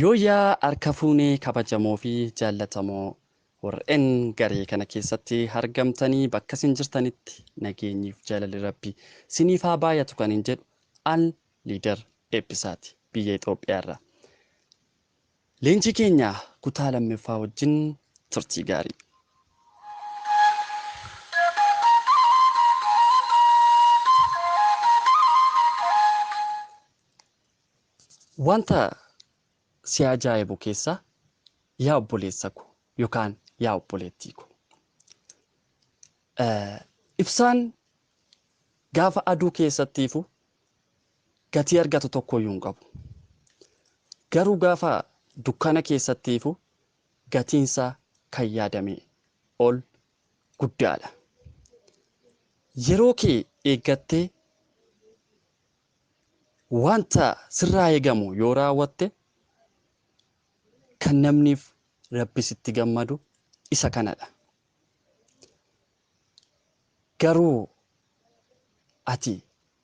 Yooyyaa harka fuune kabajamoo fi jaallatamoo warreen garee kana keessatti argamtanii bakka isin jirtanitti nageenyiif jaalalli rabbi siniif haa baay'atu kan hin jedhu al liidar eebbisaati biyya Itoophiyaa irraa. Leenjii keenya kutaa lammaffaa wajjin turtii gaarii. Wanta si ajaa'ibu keessaa yaa obboleessa ko yookaan yaa obboleettii ko ibsaan gaafa aduu keessatti ifu gatii argatu tokkoyyuu hin qabu. Garuu gaafa dukkana keessatti ifu gatiinsaa kan yaadamee ol guddaadha. Yeroo kee eeggattee Wanta sirraa eegamu yoo raawwatte kan namniif Rabbis itti gammadu isa kanadha. Garuu ati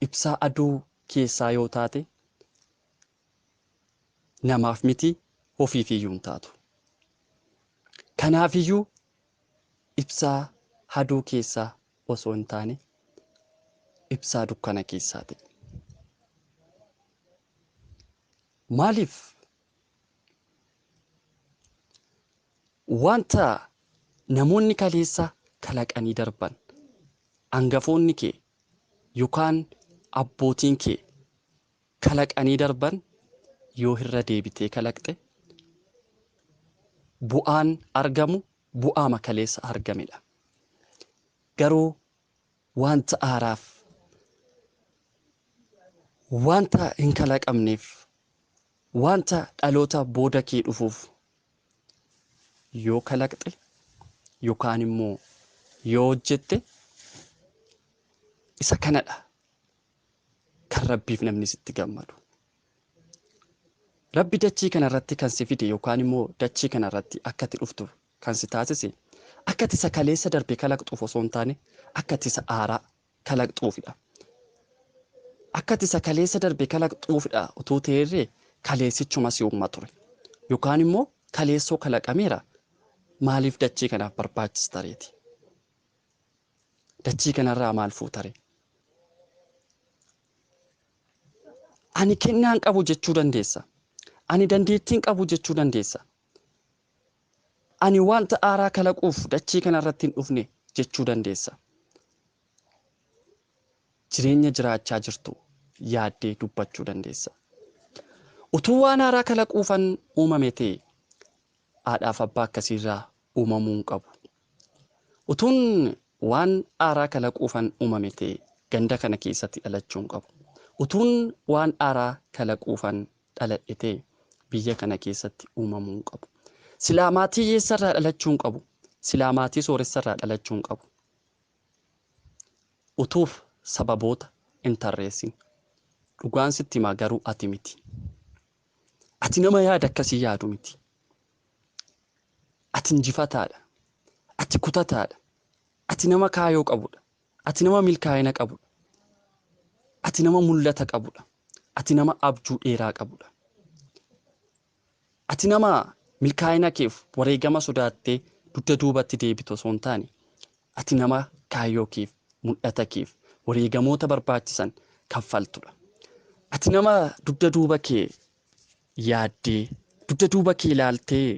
ibsaa aduu keessaa yoo taate namaaf miti hofiifiyyuu hin taatu. Kanaafiyyuu Ibsaa haduu keessaa osoo hin taane ibsaa dukkana keessaa ta'i. Maaliif? Wanta namoonni kaleessa kalaqanii darban, angafoonni kee yookaan abbootiin kee kalaqanii darban yoo hirra deebitee kalaqxe bu'aan argamu bu'aama kaleessa argamedha. Garuu waanta haaraaf, waanta hin kalaqamneef, waanta dhaloota booda kee dhufuuf yoo kalaqxe yookaan immoo yoo hojjette isa kanadha kan rabbiif namni sitti gammadu. Rabbi dachii kanarratti kan si fide yookaan immoo dachii kanarratti akka itti dhuftu kan si taasise akka itti isa kaleessa darbe kalaqxuuf osoo hin taane akka itti isa haaraa kalaqxuufidha. Akka itti isa kaleessa darbe kalaqxuufidha utuu ta'eerree kaleessichuma si uumma ture. Yookaan immoo kaleessoo kalaqameera maaliif dachii kanaaf barbaachista reeti. Dachii kanarraa maal fuutaree? Ani kennaan qabu jechuu dandeessa. Ani dandeettiin qabu jechuu dandeessa. Ani wanta aaraa kalaquuf dachii kanarratti hin dhufne jechuu dandeessa. Jireenya jiraachaa jirtu yaaddee dubbachuu dandeessa. Utuu waan haaraa kalaquufan uumame ta'e haadhaaf abbaa akkasiirraa uumamuu hin qabu. Utuun waan dhaaraa kalaquufan uumame ta'e ganda kana keessatti dhalachuu hin qabu. Utuun waan dhaaraa kalaquufan dhaladhe ta'e biyya kana keessatti uumamuu hin qabu. Silaa maatii hiyyeessa irraa dhalachuu hin qabu. Silaa maatii sooressa irraa dhalachuu hin qabu. Utuuf sababoota hin tarreessin. Dhugaan sitti himaa garuu ati miti. Ati nama yaada akkasii yaadu miti. Ati injifataadha. Ati kutataadha. Ati nama kaayoo qabudha. Ati nama milkaa'ina qabudha. Ati nama mul'ata qabudha. Ati nama abjuu dheeraa qabudha. Ati nama milkaa'ina keef wareegama sodaattee dugda duubatti deebitu osoo hin taane, ati nama kaayoo keef, mul'ata keef wareegamoota barbaachisan kaffaltudha. Ati nama dugda duuba kee yaaddee, dugda duuba kee ilaaltee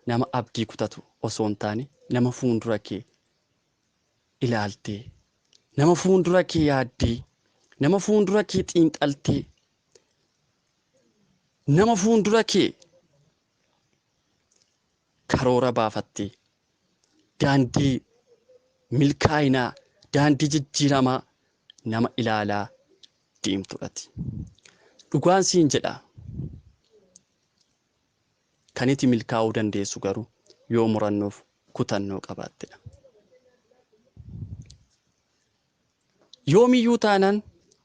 nama abdii kutatu osoo hin taane nama fuundura kee ilaaltee, nama fuundura kee yaaddee, nama fuundura kee xiinxaltee, nama fuundura kee karoora baafattee, daandii milkaa'inaa, daandii jijjiiramaa nama ilaalaa deemtudhati. Dhugaan siin jedha kan iti milkaa'uu dandeessu garuu yoo murannoof kutannoo qabaattedha. Yoomiyyuu taanaan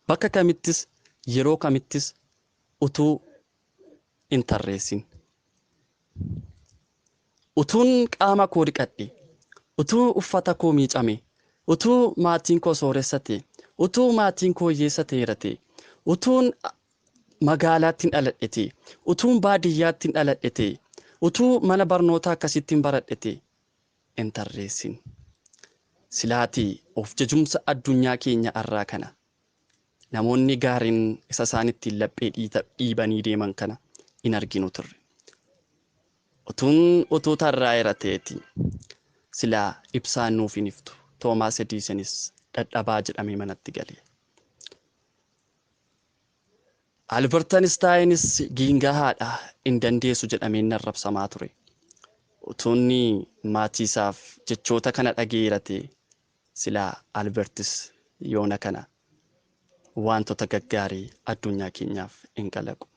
bakka kamittis yeroo kamittis utuu hin tarreessin Utuun qaama koo dhiqadhe, utuu uffata koo miicame, utuu maatiin koo sooressa ta'e, utuu maatiin koo hiyyeessa ta'eera ta'e, utuun magaalaattin dhaladhe ta'e, utuun baadiyyaattin dhaladhe ta'e, utuu mana barnootaa akkasiittin baradhe ta'e hin tarreessin. Silaatii of jajumsa addunyaa keenya arraa kana Namoonni gaariin isa isaan ittiin laphee dhiibanii deeman kana hin arginu turre. Utuun utuu tarraa'eera ta'eetii silaa ibsaan nuuf hin iftu. Toomaas Ediisenis dadhabaa jedhamee manatti gale. Albert Anistaayinis giingahaadha hin dandeessu jedhameen narrabsamaa ture. Utuunni maatiisaaf jechoota kana dhaga'eera ta'e Silaa Albertis yoona kana waantota gaggaarii adduunyaa keenyaaf hin kalaqu.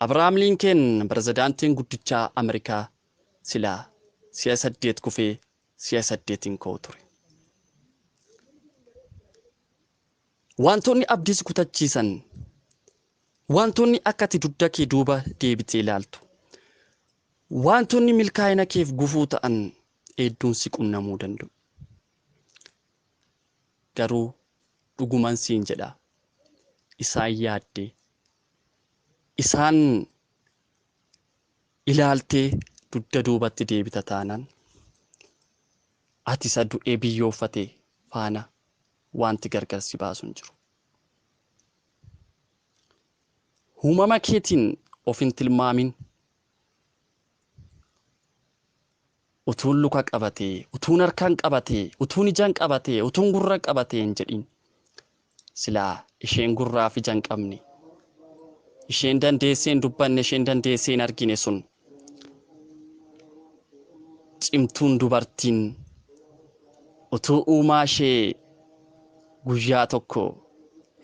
Abrahaam Liinkeen Pirezidaantiin guddichaa Amerikaa silaa si'a saddeet kufee si'a saddeet hin ka'u ture. Waantonni abdii si kutachiisan, waantonni akka ati dugda kee duuba deebitee ilaaltu, waantonni milkaa'ina keef gufuu ta'an hedduun si qunnamuu danda'u. Garuu dhuguman siin jedha isaan yaaddee isaan ilaaltee dugda duubatti deebita taanaan ati isa du'ee biyyoofate faana wanti gargar si baasu hin jiru. Uumama keetiin of hin tilmaamin. Utuun luka qabatee, utuun harkaan qabatee, utuun ijan qabatee, utuun gurra qabatee hin jedhiin. Silaa isheen gurraa fi ija hin qabne, isheen dandeessee hin dubbanne, isheen dandeessee hin argine sun cimtuun dubartiin utuu uumaa ishee guyyaa tokko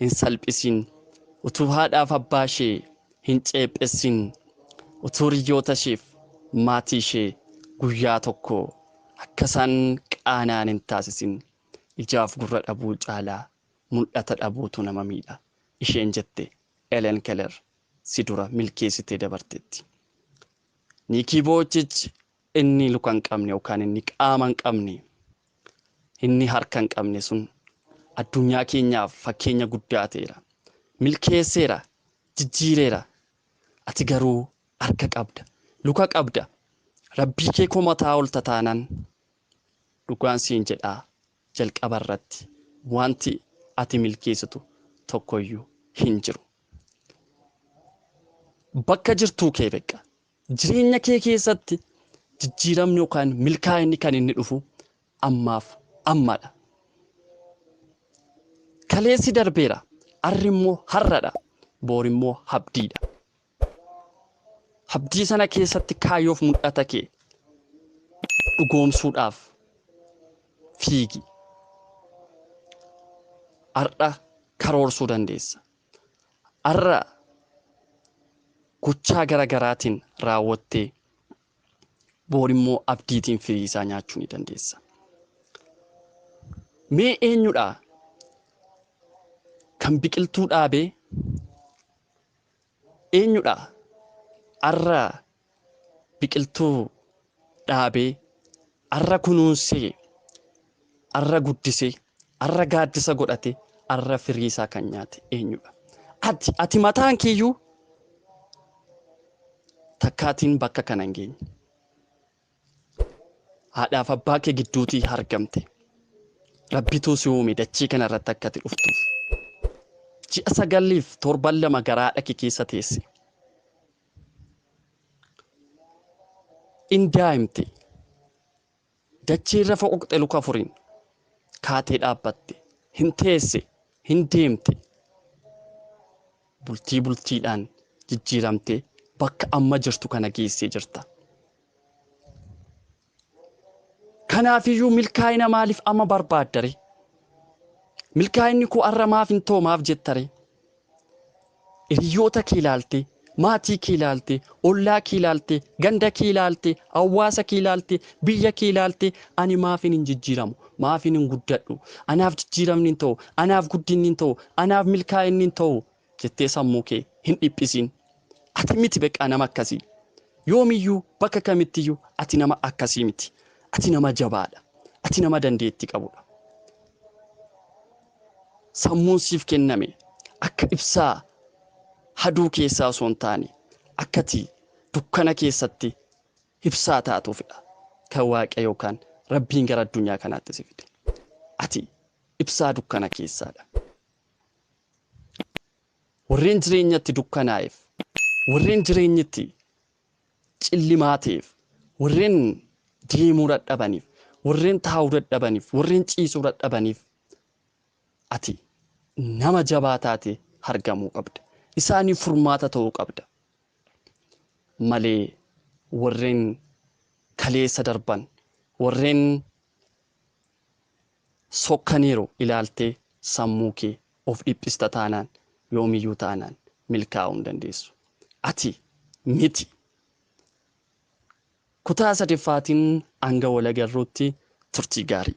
hin salphisiin, utuu haadhaaf abbaa ishee Hin ceephessin. Utuu hiriyootasheef maatiishee guyyaa tokko akkasaan qaana'an hin taasisin. Ijaaf gurra dhabuu caalaa mul'ata dhabuutu nama miidha, isheen jette Elen Keller si dura milkeessitee dabarteetti. Niikii Vooyichich inni luka hin qabne yookaan inni qaama hin qabne, inni harka hin qabne sun addunyaa keenyaaf fakkeenya guddaa ta'eera. Milkeesseera, jijjiireera. Ati garuu harka qabda, luka qabda, Rabbii kee komataa oolta taanaan, dhugaan siin jedha jalqaba irratti wanti ati milkeessitu tokkoyyuu hin jiru. Bakka jirtuu kee beqqa. Jireenya kee keessatti jijjiiramni yookaan milkaa'inni kan inni dhufu ammaaf ammadha. Kaleessi darbeera, arri immoo har'adha, boor immoo abdiidha. Abdii sana keessatti kaayyoof mul'ata kee dhugoomsuudhaaf fiigi. Har'a karoorsuu dandeessa. har'a gochaa gara garaatiin raawwattee boor immoo abdiitiin firii isaa nyaachuu ni dandeessa. Mee eenyudha kan biqiltuu dhaabee eenyudha har'a biqiltuu dhaabee, arra kunuunsee, arra guddisee, arra gaaddisa godhatee, arra firii isaa kan nyaate eenyudha? Ati, ati mataan keeyyuu takkaatiin bakka kana hin geenye. Haadhaaf abbaa kee gidduutii argamte. Rabbituu si uume dachii kana irratti akka ati dhuftuuf. Ji'a sagaliif torban lama garaa dhaqi keessa teesse. in daa'imte dachii irra foqoqxe luka afuriin kaatee dhaabbatte hin teesse hin deemte bultii bultiidhaan jijjiiramtee bakka amma jirtu kana geessee jirta. Kanaafiyyuu milkaa'ina maaliif amma barbaaddare? Milkaa'inni koo har'a maaf hin ta'u maaf jettare? Hiriyoota kee ilaalte, maatii kee ilaalte, ollaa kee ilaalte, ganda kee ilaalte, hawaasa kee ilaalte, biyya kee ilaalte ani maafin hin jijjiiramu? Maafin hin guddadhu? Anaaf jijjiiramni hin ta'u? Anaaf guddinni hin ta'u? Anaaf milkaa'inni hin ta'u? jettee sammuu kee hin dhiphisiin. Ati miti beqaa nama akkasii. Yoomiyyuu bakka kamittiyyuu ati nama akkasii miti. Ati nama jabaadha. Ati nama dandeettii qabudha. Sammuun siif kenname akka ibsaa haduu keessaa osoo hin taane akkati dukkana keessatti ibsaa taatuufidha. Kan Waaqayyo yookaan Rabbiin gara addunyaa kanaatti si fide. Ati ibsaa dukkana keessaadha. Warreen jireenyatti dukkanaa'eef, warreen jireenyitti cillimaa ta'eef, warreen deemuu dadhabaniif, warreen taa'uu dadhabaniif, warreen ciisuu dadhabaniif ati nama jabaa taate argamuu qabda. Isaaniif furmaata ta'uu qabda. Malee warreen kaleessa darban, warreen sokkaniiru ilaaltee sammuu kee of dhiphista taanaan yoomiyyuu taanaan milkaa'uu hin dandeessu. Ati miti. Kutaa sadaffaatiin hanga wal agarruutti turtii gaarii.